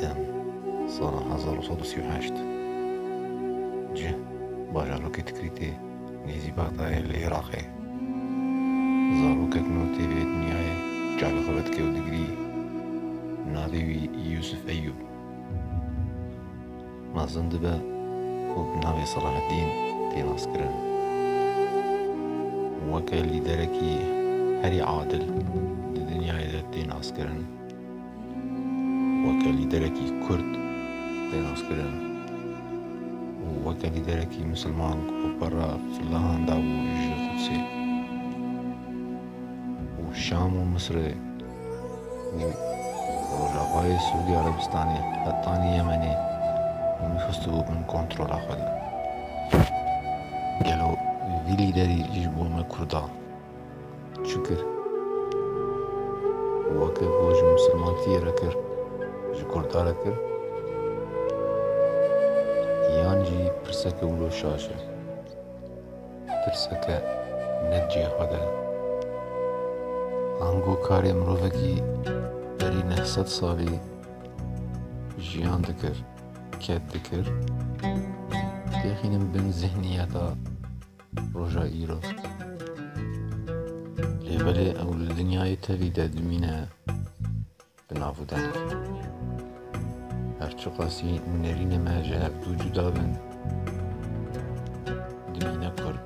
Tem sala hezar û sed û sî û heşt cih bajarokê Tikrîtê nêzî Bexdayê li Îraqê zarokek nû tê vê dinyayê çavê xwe vedike û digirî navê wî Yûsif Eyûb Mezin dibe ku bi navê Selahedîn tê naskirin û weke lîderekî herî adil di dinyayê de tê naskirin, weke lîderekî Kurd tê naskirin û weke lîderekî Misilman ku bi para filahan dabû ji Qudsê û Şam û Misirê Rojavayê Sûdî Erebistanê, Qetanî Yemenê û nifûsî bû bin kontrola xwe de. Gelo vî lîderî ji bo me Kurdan çi kir? Weke ku ji Mislimatiyê re kir, ji Kurda re kir? Yan jî pirseke wilo şaş e. Tirseke ne cihê xwe de. Ango karê mirovekî berî neh sed salî jiyan dikir, ket dikir, têxînin bin zihniyeta roja îro. Lê belê ew li dinyayê tevî de dimîne. Bi nav û deng. Her çiqasî nêrînê me ji hev dû cuda bin, dimîne kurd.